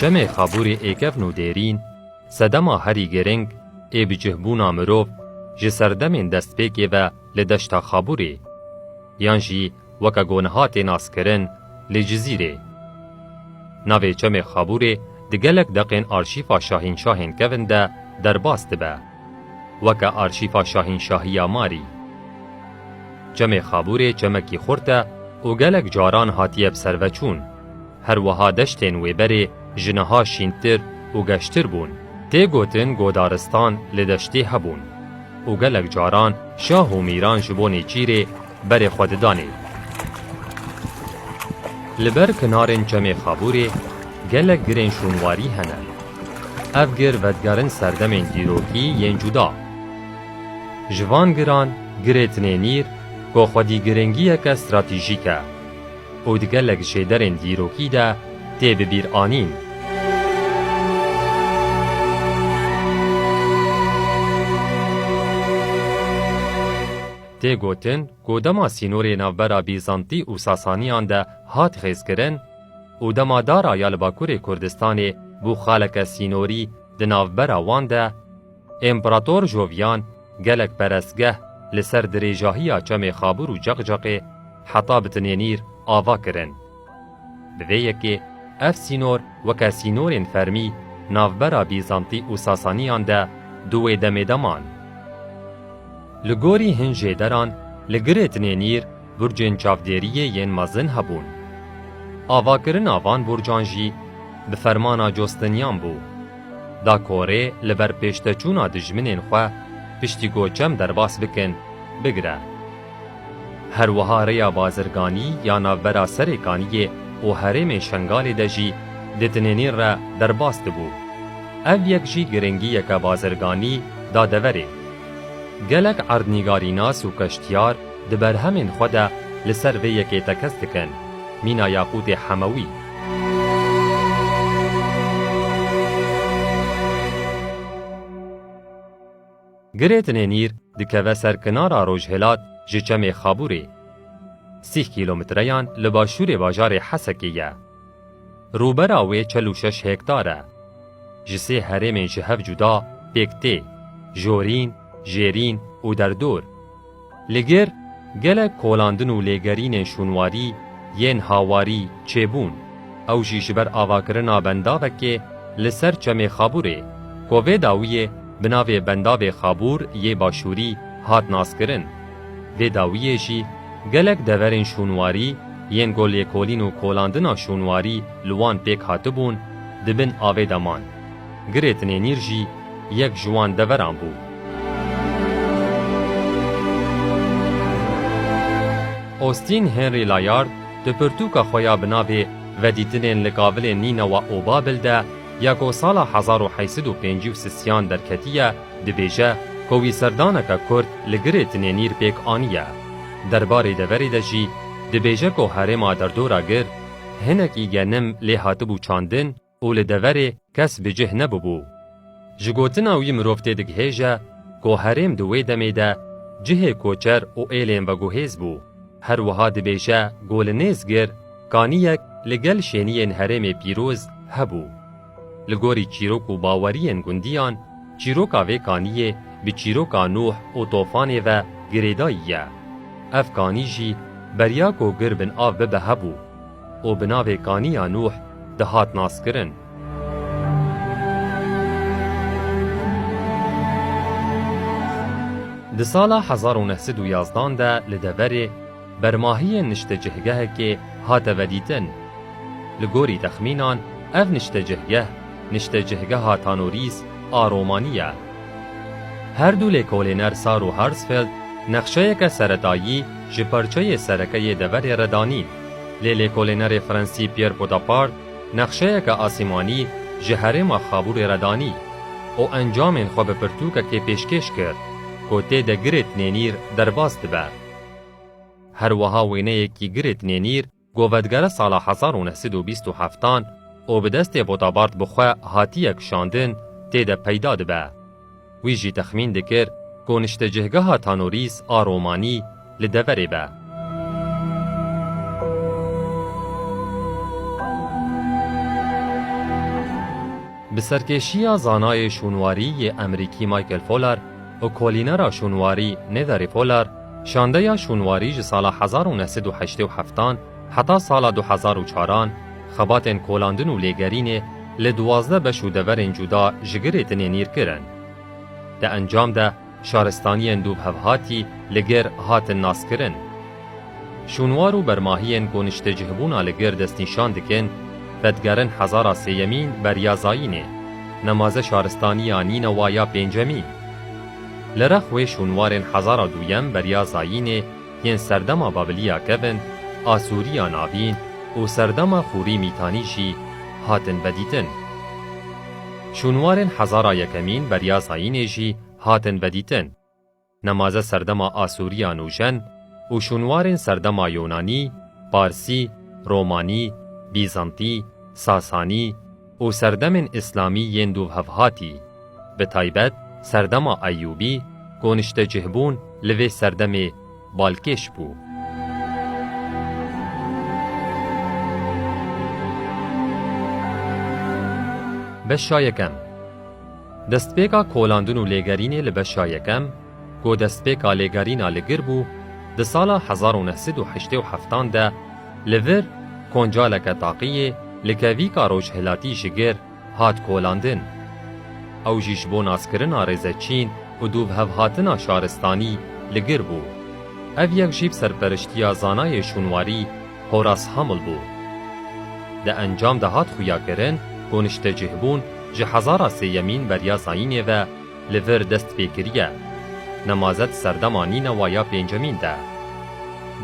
Çemê Xabûrê ê kevn û dêrîn, sedema herî girîng ê bi cihbûna mirov ji serdemên destpêkê ve li deşta Xabûrê yan jî weke ku niha tê naskirin lê Cizîrê. Navê çemê Xabûrê di gelek deqên arşîfa şahînşahên kevn de derbas dibe. Weke arşîfa şahînşahiya Marî. Çemê Xabûrê çemekî xurt e û gelek caran hatiye bi ser ve çûn. Her wiha deştên wê berê ji niha şîntir û geştir bûn. Tê gotin godaristan li deştê hebûn û gelek caran şah û mîran ji bo nêçîrê berê xwe didanê. Li ber kinarên çemê Xabûrê gelek girên şûnwarî hene. Ev gir vedigerin serdemên dîrokî yên cuda. Ji van giran girê Tinênîr ku xwedî girêngiyeke stratejîk e û di gelek şêderên dîrokî de tê bibîranîn. Tê gotin ku dema sînorê navbera Bîzantî û Sasaniyan de hat xêzkirin û dema dara ya li bakurê Kurdistanê bû xaleke sînorî di navbera wan de, Împerator Jovian gelek perestgeh li ser dirêjahiya çemê Xabûr û Ceqceqê heta bi Tinênîr ava kirin. Bi vê yekê ev sînor weke sînorên fermî navbera Bîzantî û Sasaniyan de du wê demê de man. Li gorî hin jê deran li Girêtinê Nîr burcên çavdêriyê yên mezin hebûn. Avakirina van burcan jî bi fermana Costinyan bû. Da korê li ber pêşteçûna dijminên xwe piştî ku çem derbas bikin bigire. Her wiha rêya bazirganî ya navbera Serêkaniyê û herêmê Şengalê de jî di tinênîn re derbas dibû. Ev yek jî giringiyeke bazirganî da deverê. Gelek erdnîgarînas û keştiyar di berhemên xwe de li ser vê yekê tekez dikin, mîna yaqûtê hemewî. Girêtinê Nîr dikeve ser kinara rojhilat ji çemê Xabûrê. Sîh kîlometreyan li başûrê bajarê Hesekê ye. Rûbera wê çel û şeş hektar e. Ji sê herêmên ji hev cuda pêk tê, Jorîn, Jêrîn û Derdor. Li gêr gelek kolandin û lêgerînên şûnwarî yên hawarî çêbûn, ew jî ji ber avakirina bendavekê li ser Çemê Xabûrê ku vê dawiyê bi navê Bendavê Xabûr yê Başûrî hat naskirin. Vê dawiyê jî gelek deverên şûnwarî yên ku lêkolîn û kolandina şûnwarî li wan pêk hatibûn di bin avê de man. Girêtinê nîr jî yek ji wan deveran bû. Austin Henry Layard di pirtûka xwe ya bi navê Vedîtinên li Gavilên Nînewa û Babil de ya ku sala hezar û heşt sed û pêncî û sisiyan derketiye dibêje ku wî serdaneke kurt li Girêtinê nîr pêk aniye. Derbarê deverê de jî dibêje ku herêma derdora gir hinekî genim lê hatibû çandin, û li deverê kes bi cih nebûbû. Ji gotina wî mirov tê digihêje ku herêm di wê demê de cihê koçer û êlên veguhêz bû. Her wiha dibêje ku li Nêzgir kaniyek li gel şêniyên herêmê pîroz hebû. Li gorî çîrok û baweriyên gundiyan çîroka vê kaniyê bi çîroka Nuh û Tofanê ve girêdayî ye. Ev kanî jî beriya ku gir bin av bibe hebû. û bi navê Kaniya Nûh dihat naskirin. Di sala hezar û neh sed û yazdan de li deverê Bermahiyên niştecihgehekê hate vedîtin. Li gorî texmînan ev niştecihgeh Niştecihgeha Tanorîs a Romanî ye. Her du lêkolîner Sar û Harsfeld nexşeyeke seretayî ji parçeyê sereke yê deverê re danîn. Lê lêkolênerê Fransî Pierre Podapart nexşeyeke asîmanî ji herêma Xabûrê re danî û encamên xwe bi pirtûkekê pêşkêş kir ku tê de girêt nênîr derbas dibe. Her wiha wêneyekî girêt nênîr gove digere sala hezar û neh sed û bîst û heftan û bi destê Podapart bi xwe hatiye kişandin tê de peyda dibe. Wî jî texmîn dikir ku niştecihgeha Tanorîs a Romanî li deverê be. Bi serkêşiya zanayê şûnwarî yê Emerîkî Michael Folar û kolînera şûnwarî Netherî Folar, şandeya şûnwarî ji sala hezar û neh sed û heştê û heft an Heta sala du hezar û çaran xebatên kolandin û lêgerînê li duwazdeh beş û deverên cuda ji girê tine nîr kirin. Di encam de şaristaniyên du bi hev hatî li gir hatin naskirin. Şûnwar û bermahiyên ku niştecihbûna li gir destnîşan dikin, vedigerin hezara sêyemîn beriya zayînê, nemaze şaristaniya Nînewa ya pêncemîn. Li rex wê şûnwarên hezara duyem beriya zayînê, Yên serdema Babiliya kevin, Asûriya Navîn û serdema Xûrî Mîtanî jî hatin vedîtin. Şûnwarên hezara yekemîn beriya zayînê jî hatin vedîtin. Nemaze serdema Asûriya Nûjen û şûnwarên serdema Yûnanî, Parsî, Romanî, Bîzantî, Sasanî, û serdemên îslamî yên dûvhevhatî, bi taybet serdema Eyûbî koniştecihbûn li vê serdemê balkêş bû. Beşa yekem Destpêka kolandin û lêgerînê li beşa yekem, Ku destpêka lêgerîna li gir bû, di sala hezar û neh sed û heştê û heftan de li vir koncaleke taqiyê li kevîka rojhilatî ji gir hat kolandin. Ew jî ji bo naskirina rêze çîn û dûvhevhatina şaristanî li gir bû. Ev yek jî bi serperiştiya zanayê şûnwarî Horace Hamel bû. Di encam de hat xuyakirin ku niştecihbûn ji hezara sêyemîn beriya zayînê ve, Li vir dest pê kiriye. Nemazet serdema nîna wa ya pêncemîn de.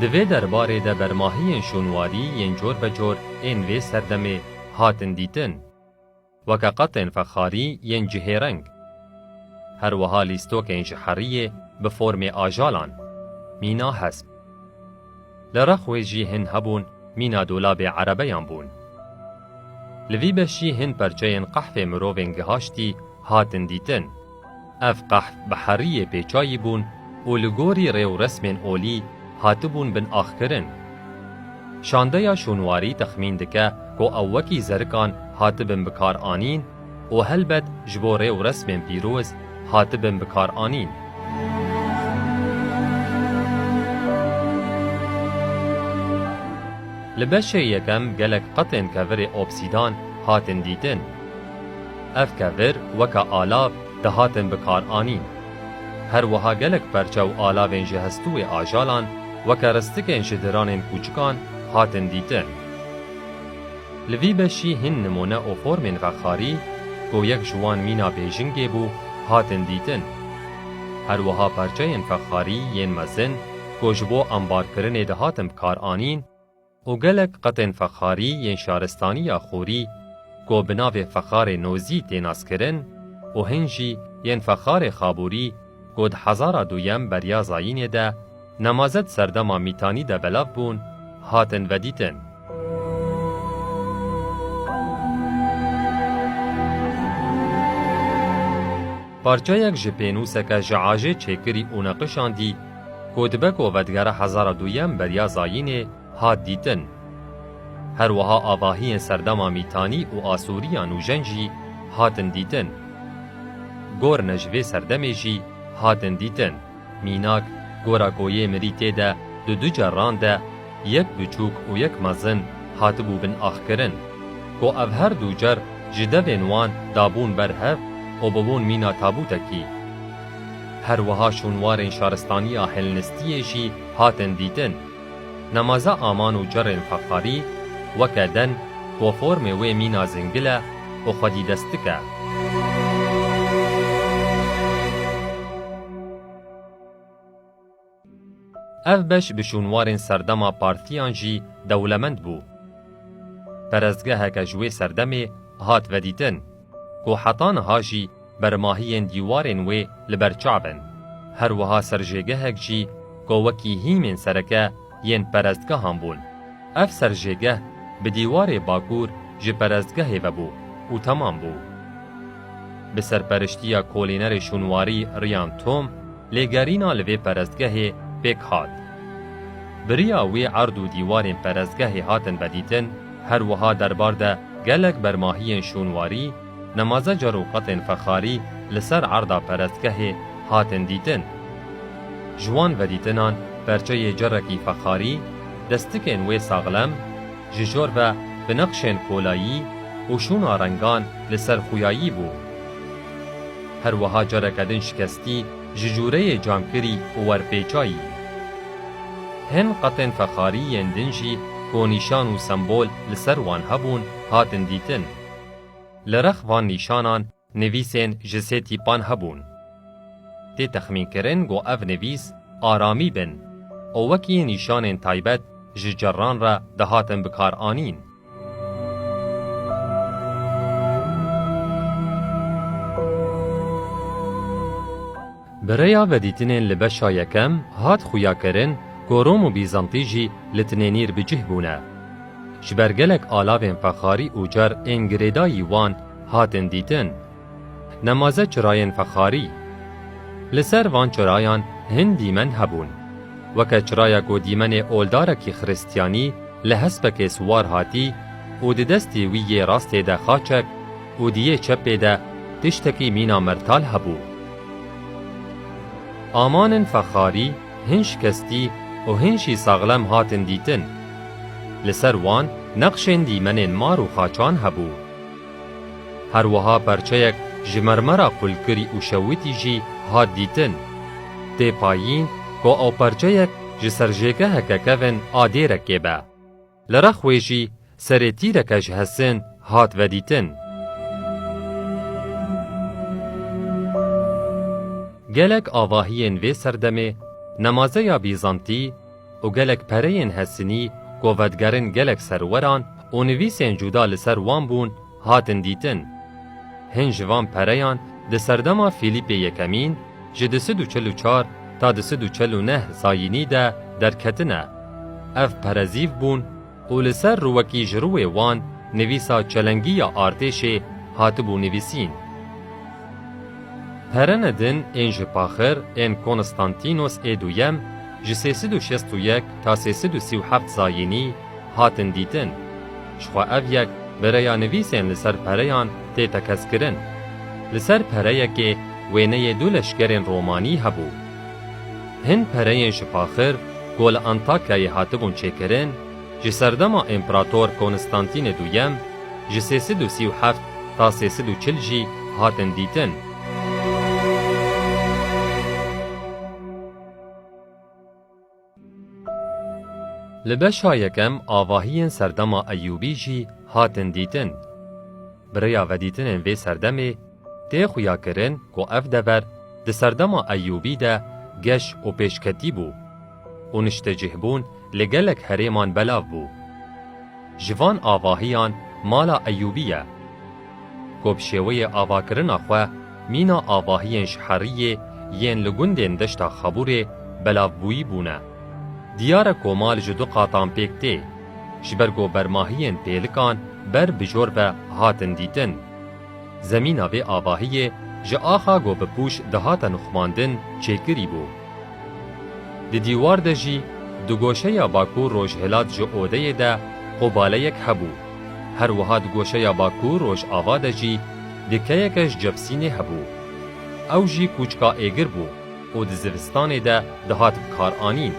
Di vê derbarê de bermahiyên şûnwarî yên corbecor ên vê serdemê hatin dîtin. Weke qatên fexarî yên cihêreng. Her wiha lîstokên ji heriyê bi formê ajalan, mîna hesp. Li rex wê jî hin hebûn mîna dolabê erebeyan bûn. Li vî beşî hin perçeyên qehfê mirovên gihaştî hatin dîtin. Ev qehf bi heriyê pêçayî bûn û li gorî rê û resmên olî hatibûn bin axkirin. Şandeya şûnwarî texmîn dike ku ew wekî zerikan hatibin bikaranîn û helbet ji bo rê û resmên pîroz hatibin bikaranîn. Li beşê yekem gelek qetên kevirê obsîdan hatin dîtin. Ev kevir weke alav dihatin bikaranîn. Her wiha gelek perçe û alavên ji hestûê ajalan weke ristikên ji diranên kûçikan hatin dîtin. Li vî beşî hin nimûne û formên vexarî ku yek ji wan mîna Bêjingê bû hatin dîtin. Her wiha parçeyên vexarî yên mezin ku ji bo ambarkirinê dihatin bikaranîn û gelek qetên vexarî yên şaristaniya Xûrî ku bi navê vexarê Nozî tê naskirin û hin jî yên vexarê Xabûrî Ku di hezara duyem beriya Zayînê de nemaze di serdema Mîtanî de belav bûn, hatin vedîtin. Parçeyek ji pênûseke ji ajê çêkirî û neqişandî ku dibe ku vedigere hezara duyem beriya Zayînê hat dîtin. Her wiha avahiyên serdema Mîtanî û Asûriya nûjen jî hatin dîtin. Gorine ji vê serdemê jî hatin dîtin. Mînak, gora ku yê mirî tê de di du cerran de, yek biçûk û yek mezin, hatibû bin axkirin. Ku ev her du cer ji devên wan dabûn ber hev û bûbûn mîna tabûtekî. Her wiha şûnwarên şaristaniya Helnistiyê jî hatin dîtin. Nemaza aman û cerên feqarî weke den bo formê wê mîna zingil e û xwedîdestik e. Ev beş bi şûnwarên serdema partiyan jî dewlemend bû. Perestgeheke ji wê serdemê hat vedîtin. Ku heta niha jî bermahiyên dîwarên wê li ber çav in. Her wiha serjêgehek jî ku wekî hîmên sereke yên perestgehan bûn. Ev serjêgeh bi dîwarê bakur ji perestgehê ve bû û temam bû. Bi serperiştiya kolînerê şûnwarî Ryan Tom, Lê gerîna li vê perestgehê pêk hat. Bi riya wê erd û dîwarên perestgehê hatin vedîtin, her wiha derbar de gelek bermahiyên şûnwarî, nemazecer û qetên fexarî li ser erda perestgehê hatin dîtin. Ji wan vedîtinan perçeyê cerekî fexarî, destikên wê saxlem, ji jor ve bi neqşên kolayî û şûna rengan li ser xûyayî bû. Her wiha careke din şikestî ji jûreyê cankirî û werpêça yî. Hin qetên fexarî yên din jî ku nîşan û sembol li ser wan hebûn hatin dîtin. Li rex van nîşanan nivîsên ji sê tîpan hebûn. Tê texmînkirin ku ev nivîs aramî bin û wekî nîşanên taybet ji cerran re dihatin bikaranîn. Bi rêya vedîtinên li beşa yekem hat xuyakirin ku Rom û Bîzantî jî li tinênîr bi cih bûne. Ji ber gelek alavên fexarî û car ên girêdayî wan hatin dîtin. Nemaze çirayên fexarî. Li ser van çirayan hin dîmen hebûn. Weke çiraya ku dîmenê oldarekî xiristyanî li hespekê siwar hatî û di destê wî yê rastê de xaçek û di yê çepê de tiştekî mîna mertal hebû. Amanên fexarî hin şikestî û hin jî saxlem hatin dîtin. Li ser wan nexşên dîmenên mar û xaçan hebû. Her wiha perçeyek ji mermera qulkirî û şewitî jî hat dîtin. Tê payîn ku ew perçeyek ji ser jêgeheke kevn a dêrekê be. Li rex wê jî serê tîreke ji hesin hat vedîtin. Gelek avahiyên vê serdemê, nemazeya Bîzantî, û gelek pereyên hesinî, ku vedigerin gelek serweran û nivîsên cuda li ser wan bûn, hatin dîtin. Hin ji van pereyan di serdema Fîlîpê Yekemîn, ji di sid û çil û çar ta di sid û çil û neh zayînî de derketine. Ev pere zîv bûn, û li ser rûwekî ji rûwê wan nivîsa çelengî ya artêşê hatibû nivîsîn. Perene din ên ji paxir ên Konstantînos ê Duyem ji sê sed û şêst û yek ta sê sed û sî û heft zayînî hatin dîtin. Ji xwe ev yek bi rêya nivîsên li ser pereyan tê tekez kirin. Li ser pereyekê wêneyê du leşkerên romanî hebû. Hin pereyên ji Paxir ku li Antakyayê hatibûn çêkirin, ji serdema Împerator Konstantînê Duyem ji sê sed û sî û heft ta sê sed û çil jî hatin dîtin. Li beşa yekem avahiyên serdema Eyûbî jî hatin dîtin. Bi rêya vedîtinên vê serdemê tê xuya kirin ku ev dever di serdema Eyûbî de geş û pêşketî bû û niştecihbûn li gelek herêman belav bû. Ji van avahiyan mala Eyûbî ye. Ku bi şêweyê avakirina xwe mîna avahiyên ji heriyê yên li gundên deşta Xabûrê belavbûyî bûne. Diyar e komal ji du qatan pêk tê. Ji ber ku bermahiyên pêlikan ber bi jor ve hatin dîtin. Zemîna vê avahiyê ji axa ku bi pûş dihate nuxmandin çêkirî bû. Di dîwar de jî di goşeya bakûr-rojhilat ji odeyê de qobaleyek hebû. Her wiha di goşeya Bakur Rojava de jî dikeyeke ji Cebsînê hebû. Ew jî kûçka êgir bû û di zivistanê de dihat bikaranîn,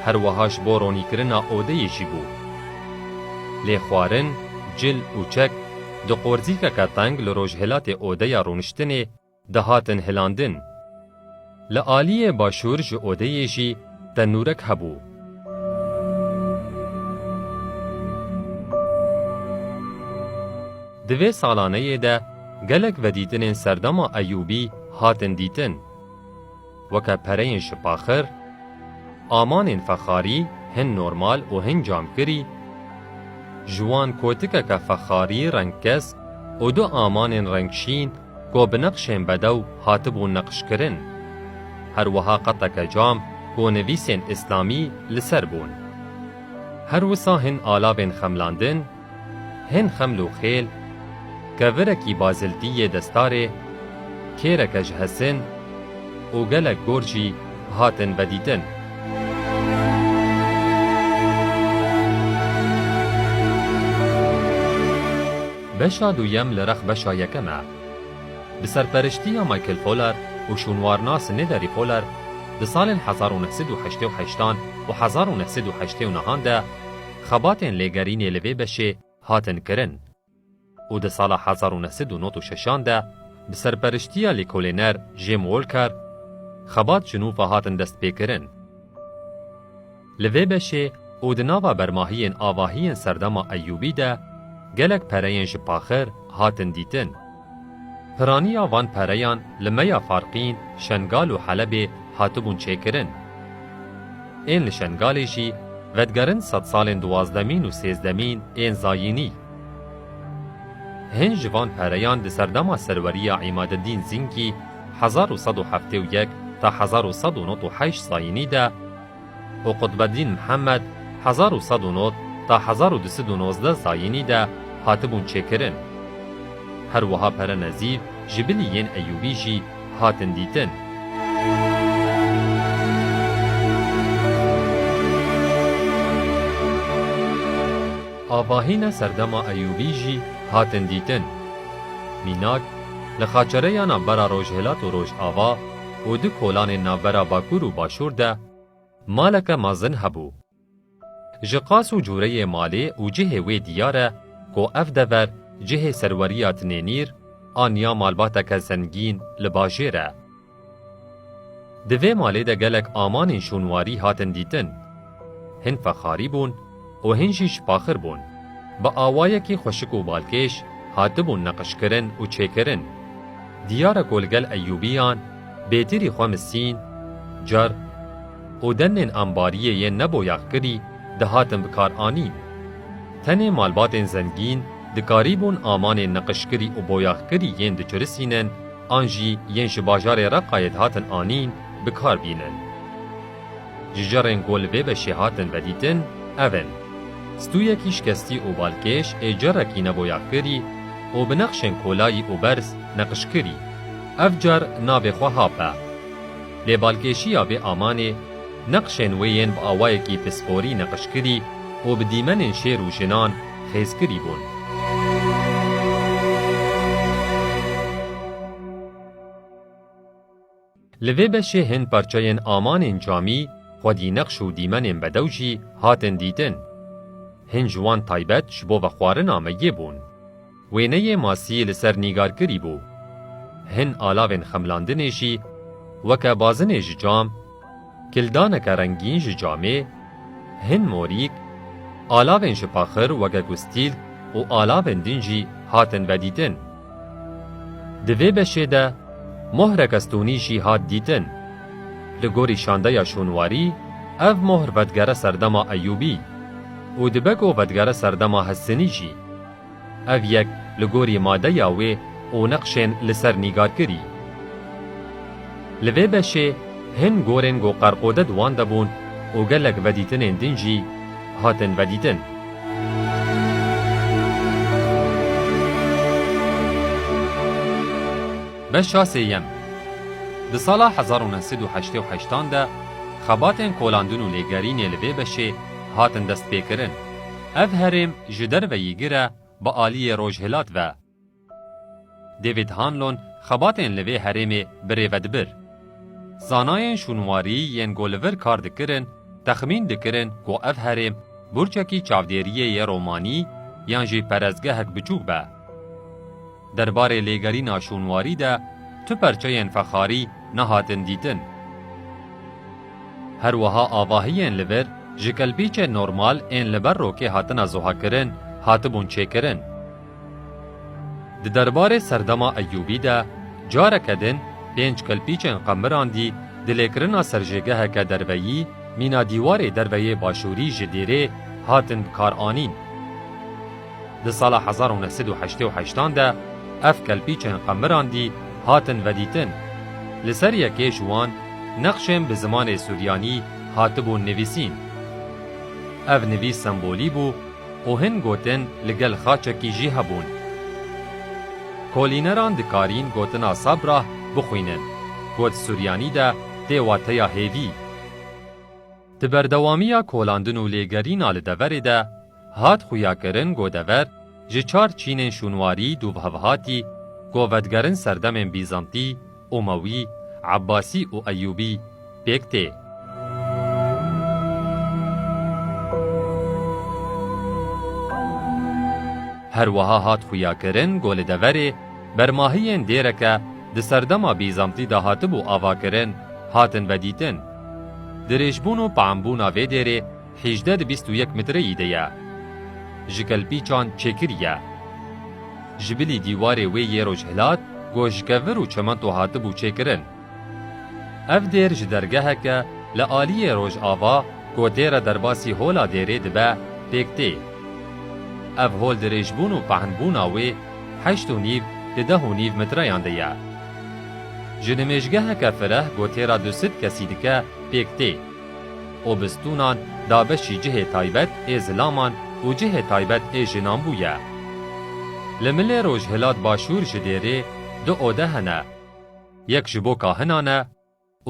her wiha ji bo ronîkirina odeyê jî bû. Lê xwarin, cil û çek di qorzîkeke teng li rojhilatê odeya rûniştinê, Dihatin hilandin. Li aliyê başûr ji odeyê jî tenûrek hebû. Di vê salaneyê de gelek vedîtinên serdema Eyûbî hatin dîtin. Weke pereyên şipaxir, amanên fexarî hin normal û hin camkirî, ji wan kotikeke fexarî rengkesk û du amanên rengşîn ku bi neqşên bedew hatibûn neqşkirin. Her wiha qeteke cam ku nivîsên îslamî li ser bûn. Her wisa hin alavên xemlandin Hin xeml û xêl, kevirekî baziltî yê destarê, kêreke ji hesin û gelek gor jî hatin vedîtin. Beşa duyem li rex beşa yekem e. Bi serperiştiya Michael Poler û şûnwarnas Nederî Poler di salên hezar û neh sed û heştê û heştan û hezar û neh sed û heştê û nehan de, Xebatên lêgerînê li vê beşê hatin kirin û di sala hezar û neh sed û nod û şeşan de bi serperiştiya lêkolêner Jim Walker xebat ji nû ve hatin destpêkirin. Li vê beşê û di nava bermahiyên avahiyên Serdema Eyûbî de gelek pereyên ji paxir hatin dîtin. Piraniya van pereyan li meya Farqîn, Şengal û Helebê hatibûn çêkirin. Ên li Şengalê jî vedigerin sedsalên duwazdemîn û sêzdemîn ên Zayînî. Hin ji van pereyan di serdema serweriya Îmadedîn Zînkî hezar û sed û heftê û yek ta hezar û sed û nod û heşt Zayînî de, û Qutbeddîn Mihemed hezar û sed û nod ta hezar û du sed û nozdeh zayînî de hatibûn çêkirin. Her wiha pere nezîf ji bilî yên Eyûbî jî hatin dîtin. Avahîna serdema Eyûbî jî hatin dîtin. Mînak, li xaçereyana bera rojhilat û rojava, û di kolanên navbera Bakur û Başûr de maleke mezin hebû. Ji qas û cureyê malê û cihê wê diyar e ku ev dever cihê serweriya Tinênîr an ya malbateke zengîn li bajêr e. Di vê malê de gelek amanên şûnwarî hatin dîtin. Hin fexarî bûn û hin jî şipaxir bûn. Bi awayekî xweşik û balkêş hatibûn neqişkirin û çêkirin. Diyar e ku li gel Eyûbiyan bêtirî xwe misîn, car û demnên ambariyê yên neboyaxkirî dihatin bikaranîn. Tenê malbatên zengîn dikarîbûn amanên neqişkirî û boyaxkirî yên diçirisînin an jî yên ji bajarê Reqayê dihatin anîn bikar bînin. Cicirên ku li vê beşê hatin vedîtin ev in, stûyekî şikestî û balkêş ê cirekî neboyakirî û bi nexşên kolayî û berz neqişkirî. Ev cir navê xwe Hap e. Lê balkêşiya vê amanê, neqşên wê yên bi awayekî pisporî neqişkirî û bi dîmenên şêr û jinan xêzkirî bûn. Li vê beşê hên parçeyên amanên camî, xwedî neqş û dîmenên bedew jî hatin dîtin. Hin ji wan taybet ji bo vexwarina me yê bûn. Wêneyê masî li ser nîgarkirî bû. Hin alavên xemlandinê jî weke bazinê ji cam, Kildaneke rengîn ji camê, hin morîk, alavên ji paxir weke ku stîl û alavên din jî hatin vedîtin. Di vê beşê de mohreke stonî jî hat dîtin. Li gorî şandeya şûnwarî ev mohr vedigere serdema Eyûbî û dibe ku vedigere serdema Hessinî jî. Ev yek li gorî madeya wê û neqşên li ser nîgarkirî. Li vê beşê hin gorên ku qerqode di wan de bûn û gelek vedîtinên din jî hatin vedîtin. Beşa sêyem Di sala hezar û neh sed û heştê û heşt an de xebatên kolandin û lêgerînê li vê beşê hatin destpêkirin. Ev herêm ji derveyî gir e bi aliyê rojhilat ve. David Hanlon xebatên li vê herêmê birêve dibir. Zanayên şûnwarî yên ku li vir kar dikirin texmîn dikirin ku ev herêm burçekî çavdêriyê yê romanî yan jî perestgehek biçûk be. Derbarê lêgerîna şûnwarî de tu perçeyên fexarî nehatin dîtin. Her wiha avahiyên li vir ji kelpîçên normal ên li ber rokê hatine zuhakirin hatibûn çêkirin. Di derbarê serdema Eyûbî de careke din pênc kelpîçên qemirandî di lêkirina serjêgeheke derveyî mîna dîwarê derveyê başûrî ji dêrê hatin bikaranîn. Di sala hezar û neh sed û heştê û heştan de ev kelpîçên qemirandî hatin vedîtin. Li ser yekê ji wan neqşên bi zimanê suryanî hatibûn nivîsîn. Ev nivîs sembolî bû û hin gotin li gel xaçekî jî hebûn. Kolîneran dikarîn gotina Sabrah bixwînin, got suryanî de tê wateya hêvî. Di berdewamiya kolandin û lêgerîna li deverê de, hat xuyakirin ku dever ji çar çînên şûnwarî dûvhevhatî ku vedigerin serdemên Bîzantî, Umewî, Ebasî û Eyûbî pêk tê. Her wiha hat xuyakirin ku li deverê bermahiyên dêreke di serdema Bîzantî de hatibû avakirin hatin vedîtin. Dirêjbûn û piembûna vê dêrê, hêjdeh di bîst û yek mitreyî de ye. Ji kelpîçan çêkir ye. Ji bilî dîwarê wê yê rojhilat goşkevir û çimento hatibû çêkirin. Ev dêr ji dergeheke li aliyê rojava kotê re derbasî hola dêrê dibe pêk tê. Ev hol dirêjbûn û pehnbûna wê heşt û nîv di deh û nîv mitreyan de ye. Ji nimêjgeheke fireh gotê re du sid kesî dike pêk tê. Û bistûnan da beşî cihê taybet ê zilaman û cihê taybet ê jinan bûye. Li milê rojhilat başûr ji dêrê du ode hene. Yek ji bo kahinan e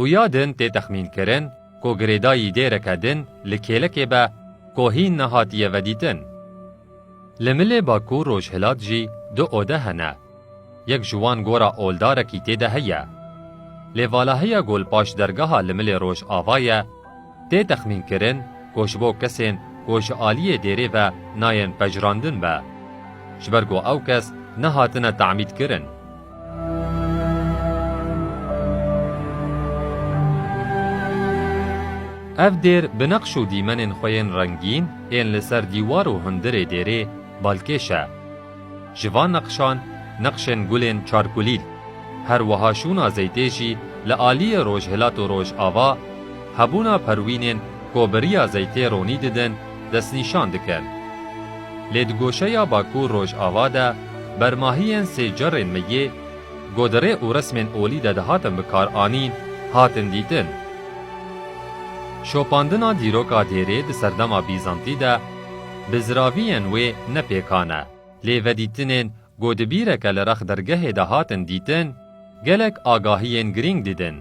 û ya din tê texmînkirin ku girêdayî dêreke din li kêlekê be ku hîn nehatiye vedîtin. Li milê Bakur Rojhilat jî du ode hene. Yek ji wan gora oldarekî tê de heye. Lê valaheya ku li paş dergeha li milê Rojava ye, tê texmînkirin ku ji bo kesên ku ji aliyê dêrê ve nayên pejirandin be. Ji ber ku ew kes nehatine temîdkirin. Ev dêr bi neqş û dîmenên xwe yên rengîn ên li ser dîwar û hundirê dêrê balkêş e. Ji van neqşan neqşên gulên çarkulîl, her wiha şûna zeytê jî li aliyê rojhilat û rojava, hebûna perwînên ku bi riya zeytê ronî didin, destnîşan dikin. Lê di goşeya Bakur-Rojava de bermahiyên sê cerrên me yê ku di rê û resmên olî de dihatin bikaranîn hatin dîtin. Şopandina dîroka dêrê di serdema Bîzantî de bi ziraviyên wê ne pêkan e, lê vedîtinên ku di bîreke li rex dergehê de hatin dîtin gelek agahiyên girîng didin.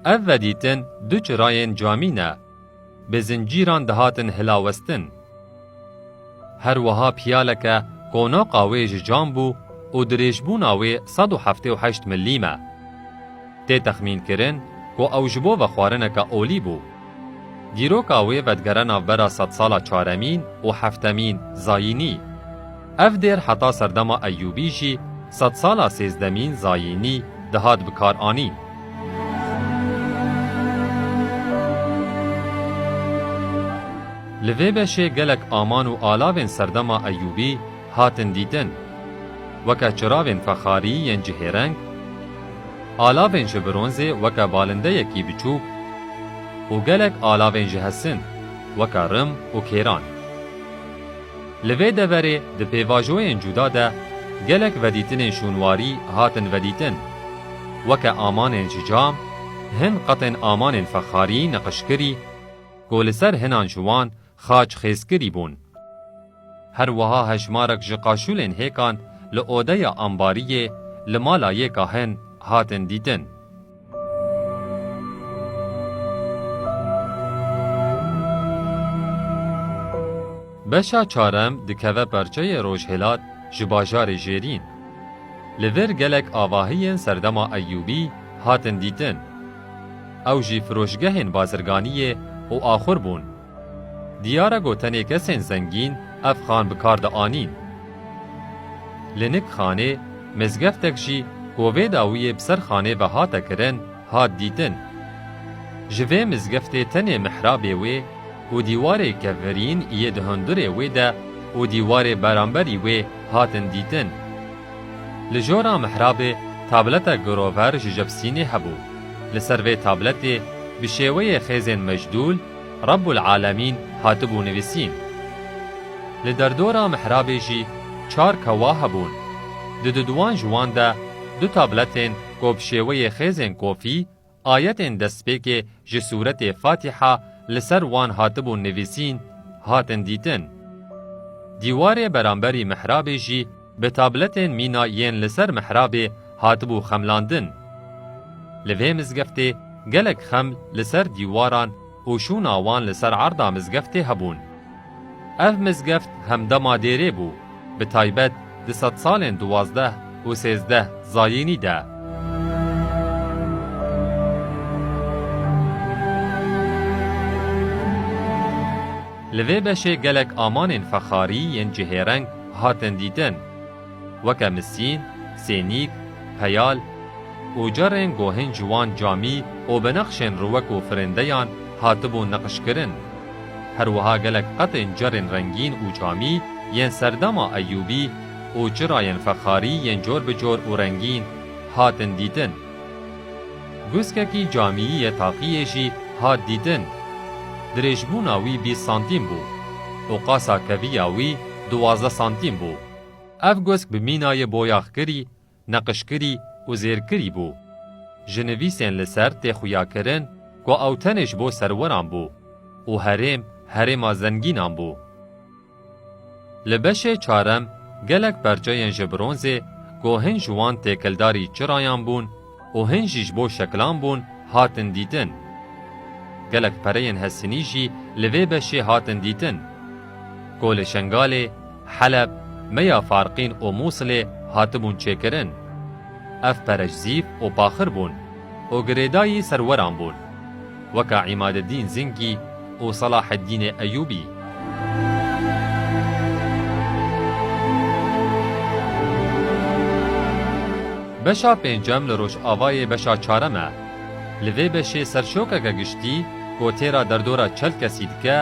Ev vedîtin du çirayên camî ne. Bi zincîran dihatin hilawestin. Her wiha piyaleke qonaqa wê ji cam bû û dirêjbûna wê sed û heftê û heşt milîm e. Tê texmînkirin ku ew ji bo vexwarineke olî bû. Dîroka wê vedigere navbera sedsala çaremîn û heftemîn Zayînî. Ev dêr heta serdema Eyyûbî jî sedsala sêzdemî, zayînî, dihat bikaranîn. Li vê beşê gelek aman û alavên serdema Eyyûbî hatin dîtin. Weke çiravên fexarî yên cihêreng, alavên ji bronzê weke balindeyekî biçûk û gelek alavên ji hesin weke rim û kêran. Li vê deverê di pêvajoyên cuda de gelek vedîtinên şûnwarî hatin vedîtin. Weke amanên ji cam, hin qetên amanên fexarî niqişkirî ku li ser hinan ji wan xaç xêzkirî bûn. Her wiha hejmarek ji qaşûlên hêkan li odeya ambariyê li mala yêka hin hatin dîtin. Beşa çarem dikeve perçeyê rojhilat ji bajarê Jêrîn. Li vir gelek avahiyên serdema Eyûbî hatin dîtin. Ew jî firoşgehên bazirganiyê û axur bûn. Diyar e ku tenê kesên zengîn ev xan bi kar dianîn. Li Nik Xanê mizgeftek jî ku vê dawiyê bi ser xanê ve hate kirin hat dîtin. Ji vê mizgeftê tenê mihrabê wê û dîwarê kevirîn yê di hundirê wê de û dîwarê beramberî wê hatin dîtin. Li jora mihrabê tabletek girover ji jepsînê hebû. Li ser vê tabletê bi şêweyê xêzên mecdûl, Rabbul Alemîn hatibû nivîsîn. Li derdora mihrabê jî çar kewa hebûn. Di duduwan ji wan de du tabletên ku bi şêweyê xêzên kofî ayetên destpêkê ji sûretê Fatiha li ser wan hatibûn nivîsîn, hatin dîtin. Dîwarê beramberî mihrabê jî, Bi tabletên mîna yên li ser mihrabê hatibû xemlandin. Li vê mizgeftê gelek xeml li ser dîwaran û şûna wan li ser erda mizgeftê hebûn. Ev mizgeft hemdema dêrê bû, bi taybet di sedsalên duwazdeh û sêzdeh zayînî de. Li vê beşê gelek amanên fexarî yên cihêreng, hatin dîtin weke misîn, sênîk, peyal, ocarên gohên ciwan camî û bi nexşên riwek û firindeyan hatibûn niqişkirin. Her wiha gelek qetên carên rengîn û camî yên serdema Eyûbî û çirayên fexarî yên cor bi cor û rengîn hatin dîtin. Guskekî camiyî yê taqiyê jî hat dîtin. Dirêjbûna wî bîst santîm bû û qasa keviya wî duwazdeh santîm bû. Ev gusk bi mînayê boyaxkirî, neqişkirî û zêrkirî bû. Ji nivîsên li ser tê xuyakirin ku ew tenê ji bo serweran bû û herêm herêma zengînan bû. Li beşê çarem gelek perçeyên ji bronzê ku hin ji wan têkildarî çirayan bûn û hin jî ji bo şekilan bûn hatin dîtin. Gelek pereyên hestinî jî li vê beşê hatin dîtin. Ku li Şengalê, Heleb, Meya Farqîn û Mûsilê hatibûn çêkirin. Ev pere ji zîv û paxir bûn. û girêdayî serweran bûn weka Îmadeddîn Zingî û Selaheddînê Eyûbî. Beşa pêncem li rojavayê beşa çarem e. Li vê beşê serşokeke giştî ku têra derdora çel kesî dike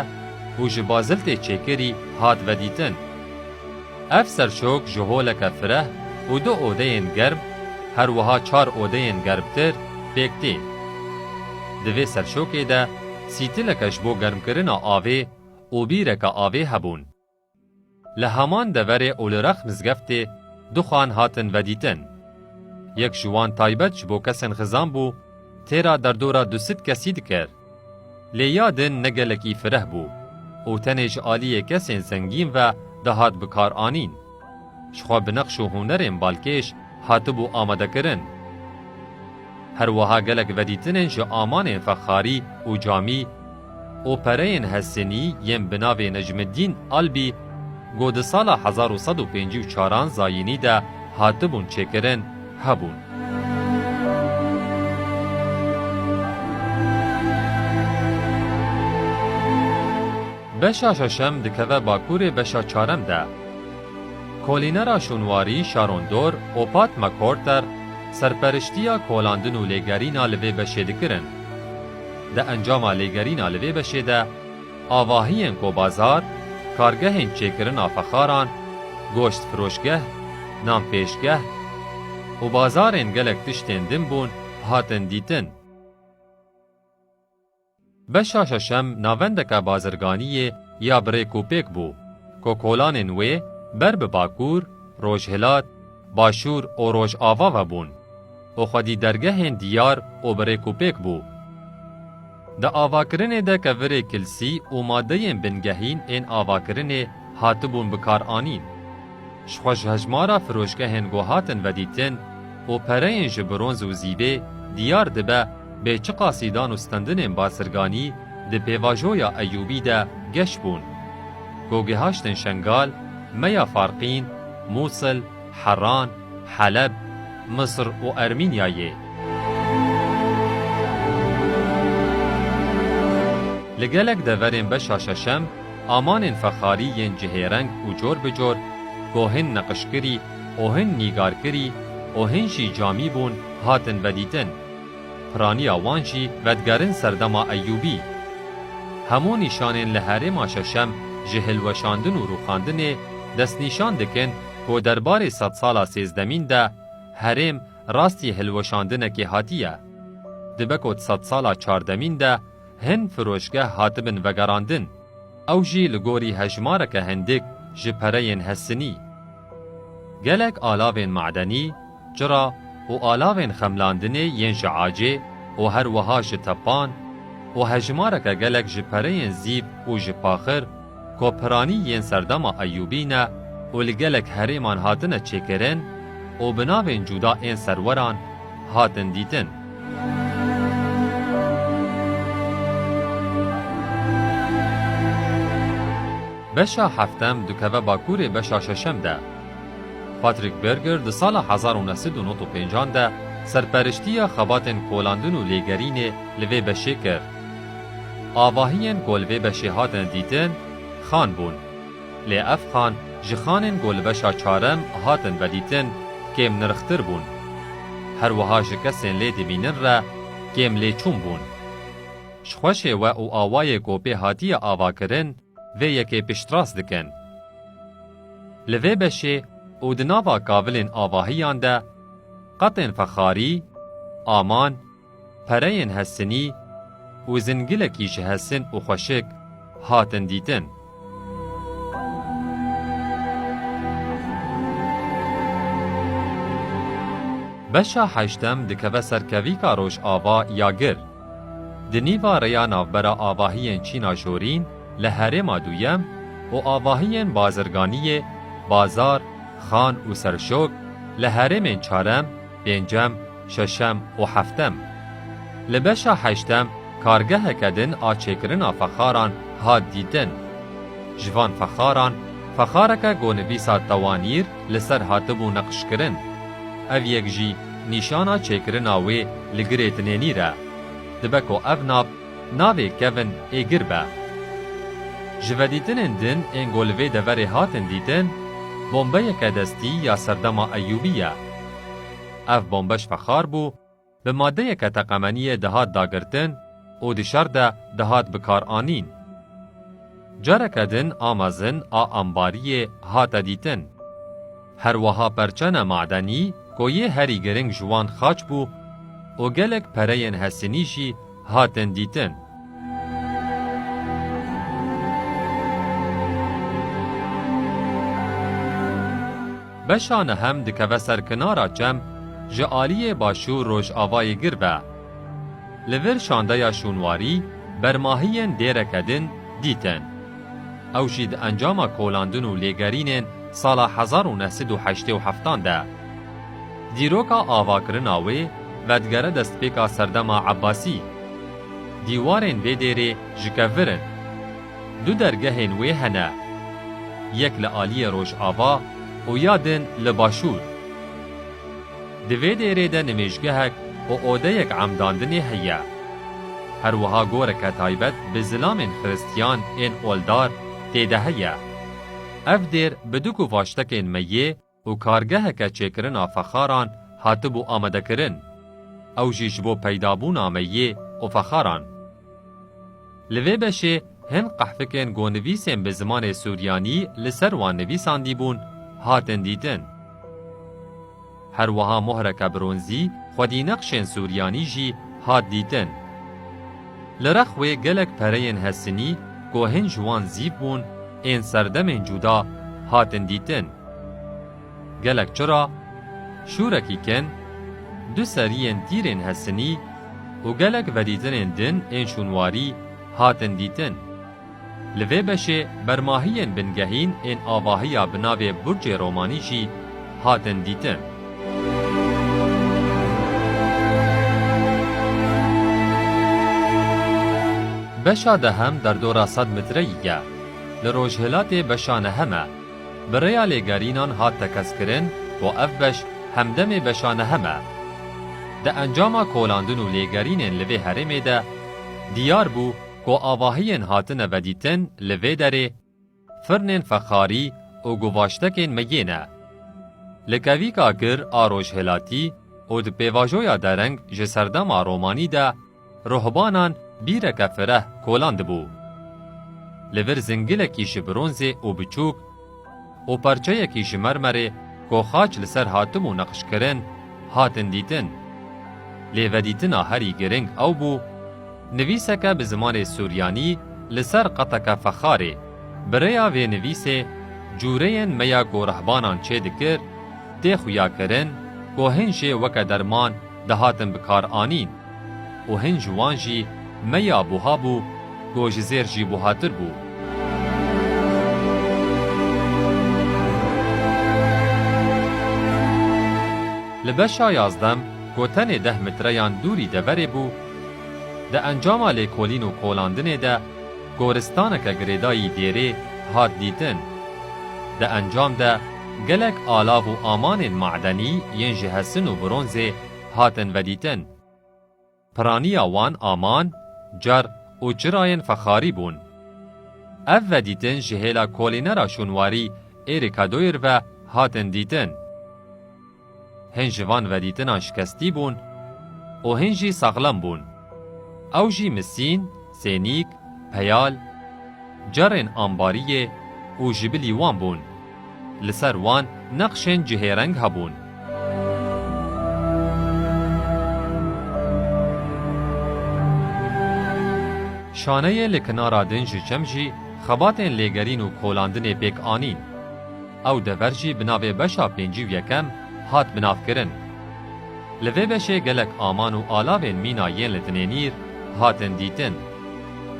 û ji baziltê çêkirî hat vedîtin. Ev serşok ji holeke fireh û du odeyên germ her wiha çar odeyên germtir pêk tê. Di vê serşokê de sîtileke ji bo germkirina avê û bîreke avê hebûn. Li heman deverê Olirex mizgeftê du xan hatin vedîtin. Yek ji wan taybet ji bo kesên xizan bû, têra derdora du sed kesî dikir. Lê ya din ne gelekî fireh bû û tenê ji aliyê kesên zengîn ve dihat bikaranîn. Ji xwe bi neqş û hunerên balkêş hatibû amadekirin. Her wiha gelek vedîtinên ji amanên fexarî û camî û pereyên Hesênî yên bi navê Necmiddîn Albî ku di sala hezar û sed û pêncî û çaran zayînî de hatibûn çêkirin, hebûn. Beşa şeşem dikeve bakurê beşa çarem de. Kolînera Şûnwarî, Şarondor, Opat McCorter serperiştiya kolandin û lêgerîna li vê beşê dikirin. Di encama lêgerîna li vê beşê de, avahiyên kobazar, kargehên çêkirina fexaran, goştfiroşgeh, nanpêşgeh û bazarên gelek tiştên din bûn hatin dîtin. Beşa şeşem navendeke bazirganiyê ya birêk û pêk bû ku kolanên wê ber bi Bakur, Rojhilat, Başûr û Rojava ve bûn û xwedî dergehên diyar û birêk û pêk bû. Di avakirinê de ke virê kilsî û madeyên bingehîn ên avakirinê hatibûn bikaranîn. Ji xwe ji hejmara firoşgehên ku hatin vedîtin û pereyên ji bronz û zîbê diyar dibe bê çi qasîdan û stendinên bazirganî di pêvajoya Eyûbî de geş bûn. Ku gihaştin Şengal, Meya Farqîn, Mûsil, Heran, Heleb, Misir û Ermînyayê. Li gelek deverên beşa şeşem amanên fexarî yên cihêreng û cor bi cor ku hin neqişkirî û hin nîgarkirî û hin jî camî bûn hatin vedîtin. Piraniya wan jî vedigerin serdema Eyûbî. Hemû nîşanên li herêma şeşem ji hilweşandin û rûxandinê destnîşan dikin Ku derbarê sedsala sêzdemîn de herêm rastî hilweşandinekê hatiye. Dibe ku di sedsala çardemîn de hin firoşgeh hatibin vegerandin, ew jî li gorî hejmareke hindik ji pereyên hestinî. Gelek alavên madenî, Çira û alavên xemlandinê yên ji acê û her wiha ji tepan û hejmareke gelek ji pereyên zîv û ji paxir ku piranî yên serdema Eyûbî ne û li gelek herêman hatine çêkirin û bi navên cuda ên serweran hatin dîtin. Beşa heftem dikeve bakurê beşa şeşem de. Patrick Berger di sala hezar û neh sed û nod û pêncan de serperiştiya xebatên kolandin û lêgerînê li vê beşê kir. Avahiyên ku li vê beşê hatin dîtin xan bûn. Lê ev xan ji xanên ku li beşa çarem hatin vedîtin kêm nirxtir bûn. Her wiha ji kesên lê dimînin re kêm lêçûn bûn. Ji xweşê we û awayê ku pê hatiye avakirin, Vê yekê piştrast dikin. Li vê beşê û di nava kavilên avahiyan de qatên fexarî, aman, pereyên hestinî û zingilekî ji hesin û xweşik hatin dîtin. Beşa heştem dikeve ser kevîka Rojava ya Gir. Di nîva rêya navbera avahiyên Çîna Jorîn li herêma duyem û avahiyên bazirganiyê, bazar, xan û serşok li herêmên çarem, pêncem, şeşem û heftem. Li beşa heştem kargeheke din a çêkirina fexaran hat dîtin. Ji van fexaran, fexareke gonivîsa Tewanîr, li ser hatibû neqşkirin. Ev yek jî nîşana çêkirina wê li girê dinênîr e. Dibe ku ev nav navê kevn ê gir be. Ji vedîtinên din ên ku li vê deverê hatin dîtin, bombeyeke destî ya serdema Eyûbî ye. Ev bombe ji fexar bû, Bi madeyeke teqemeniyê dihat dagirtin û di şer de dihat bikaranîn. Careke din a mezin a ambariyê hate dîtin. Her wiha perçene madenî ku yê herî giring ji wan xaç bû û gelek pereyên hesinî jî hatin dîtin. Beşa nehem dikeve ser kinara çem ji aliyê başûr rojavayê gir ve. Li vir şandeya şûnwarî bermahiyên dêreke din dîtin. Ew jî di encama kolandin û lêgerînên sala hezar û neh sed û heştê û heftan de. Dîroka avakirina wê vedigere destpêka serdema Ebasî. Dîwarên vê dêrê ji kev vir in. Du dergehên wê hene. Yek li aliyê rojava û ya din li başûr. Di vê dêrê de nimêjgehek û odeyek emdandinê heye. Her wiha goreke taybet bi zilamên xiristiyan ên oldar tê de heye. Ev dêr bi du kuvaştekên meyê, û kargeheke çêkirina fexaran hatibû amadekirin, ew jî ji bo peydabûna me yê û fexaran. Li vê beşê hin qehfikên ku nivîsên bi zimanê suryanî li ser wan nivîsandîbûn hatin dîtin. Her wiha mohreke bronzî xwedînexşên suryanî jî hat dîtin. Li rex wê gelek pereyên hesinî ku hin ji wan zîv bûn ên serdemên cuda hatin dîtin. Gelek çira, şûrekî kin, du seriyên tîrên hesinî û gelek vedîtinên din ên şûnwarî hatin dîtin. Li vê beşê bermahiyên bingehîn ên avahiya bi navê Burçê Romanî jî hatin dîtin. Beşa dehem derdora sed mitreyî ye. Li rojhilatê beşa nehem e. bi rêya lêgerînan hat tekez-kirin ku ev beş hemdemê beşa nehem e. Di encama kolandin û lêgerînên li vê herêmê de diyar bû ku avahiyên hatine vedîtin li vê derê firnên fexarî û guvaştekên meyê ne. Li kevîka kir a rojhilatî û di pêvajoya dereng ji serdema romanî de, Ruhbanan bîreke fireh kolan dibû. Li vir zingilekî ji bronzê û biçûk û parçeyekî ji mermerê ku xaç li ser hatibû neqşkirin hatin dîtin. Lê vedîtina herî giring ew bû nivîseke bi zimanê suryanî li ser qeteke fexarê. Bi rêya vê nivîsê cûreyên me ya ku rehbanan çê dikir tê xuyakirin ku hin jê weke derman dihatin bikaranîn. Û hin ji wan jî me ya buha bû ku ji zêr jî buhatir bû. Li beşa yazdem ku tenê deh mitreyan dûrî deverê bû, di encama lêkolîn û kolandinê de goristaneke girêdayî dêrê hat dîtin. Di encam de gelek alav û amanên madenî yên ji hesin û bronzê, hatin vedîtin. Piraniya wan aman, car û çirayên fexarî bûn. Ev vedîtin ji hêla kolînera şûnwarî Êrî Kadoyir ve hatin dîtin. Hin ji van vedîtinan şikestî bûn û hin jî saxlem bûn. Ew jî misîn, sênîk, peyal, carên ambariyê û jibilî wan bûn. Li ser wan neqşên cihêreng hebûn. Şaneyê li kinara din ji çem jî xebatên lêgerîn û kolandinê pêk anîn. Ew dever jî bi navê beşa pêncî û yekem hat binavkirin. Li vê beşê gelek aman û alavên mîna yên li Dinênîr hatin dîtin.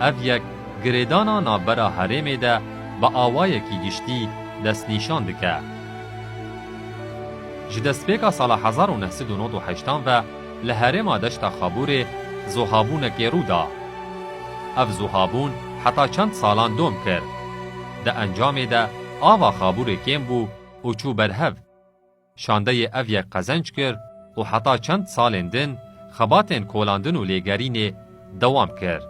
Ev yek girêdana navbera herêmê de bi awayekî giştî destnîşan dike. Ji destpêka sala hezar û neh sed û nod û heştan ve li herêma Deşta Xabûrê zohabûnekê rû da. Ev zohabûn heta çend salan dom kir. Di encamê de ava Xabûrê kêm bû û çû ber hev. Şandeyê ev yek qezenc kir û heta çend salên din xebatên kolandin û lêgerînê dewam kir.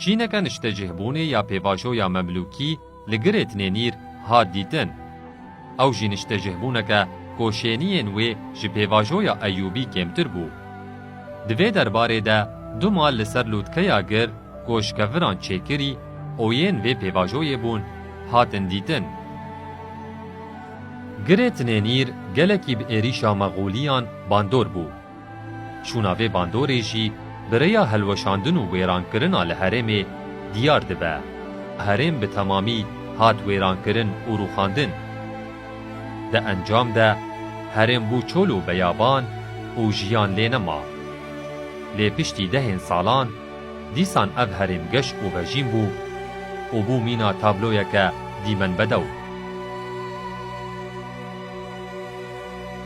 Çîneke niştecihbûnê ya pêvajoya Memlûkî, Li Girêtinê Nîr hat dîtin. Ew jî niştecihbûneke ku şêniyên wê ji pêvajoya Eyûbî kêmtir bû. Di vê derbarê de du mal li ser lûtkeya gir ku ji keviran çêkirî û yên vê pêvajoyê bûn hatin dîtin. Girêtinê Nîr gelekî bi êrîşa Mexûliyan bandor bû. Çûna vê bandorê jî bi rêya hilweşandin û wêrankirina li herêmê diyar dibe. Herêm bi temamî hat wêrankirin û rûxandin. Di encam de herêm bû çol û beyaban û jiyan lê nema. Lê piştî dehên salan dîsan ev herêm geş û vejîn bû û bû mîna tabloyeke dîmenbedew.